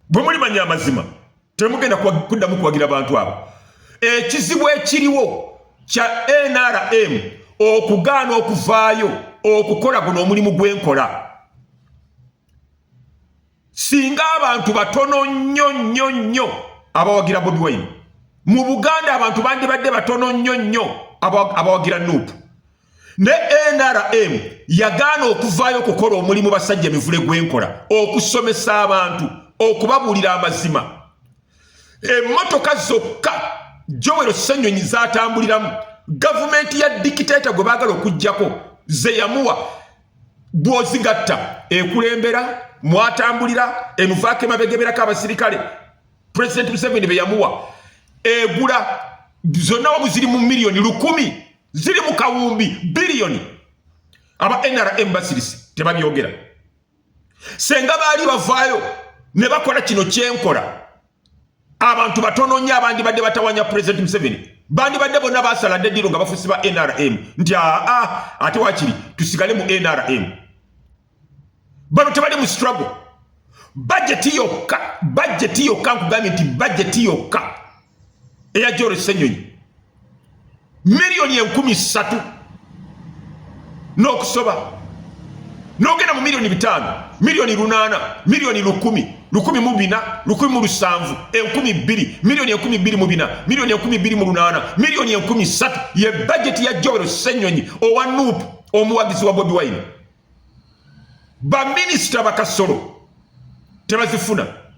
bwe mulimanya amazima temugenda kuddamu kuwagira bantu abo ekizibu ekiriwo kya nrm okugaana okuvaayo okukola guno omulimu gwenkola singa abantu batono nnyo nnyo nnyo abawagira bobi wine mu buganda abantu bandibadde batono nnyo nnyo abawagira nuupu ne nrm yagaana okuvaayo okukola omulimu basajja emivule gwenkola okusomesa abantu okubabuulira amazima emmotoka zokka jowero senyonyi zatambuliramu gavumenti ya dikiteta gwe baagala okugjako zeyamuwa bwozigatta ekulembera mwatambulira emuvaako emabegeberako abasirikale president museveni beyamuwa egula zonna wamu ziri mu miliyoni lukumi ziri mu kawumbi biliyoni aba nrm basirise tebabyogera senga baali bavaayo ne bakola kino kyenkola abantu batono nnyo abandibadde batawanya pulezidenti museveni bandibadde bonna basala dde diro nga bafusi ba nrm nti aa ate wakiri tusigale mu nrm bano tebali mu struggle bajeti yokka bajeti yokka nkugambye nti bajeti yokka eya joro senyonyi miliyoni enkumi ssatu n'okusoba nogenda mu miliyoni bitaano miliyoni lunaana miliyoni lukumi lukumi mu bina lukumi mu lusanvu enkumi bbiri miliyoni enkumi bbiri mu bina miliyoni enkumi bbiri mu lunaana miliyoni enkumi ssatu ye bajeti ya joro senyonyi owa nuupu omuwagizi wa bobi wine baminisita bakasolo tebazifuna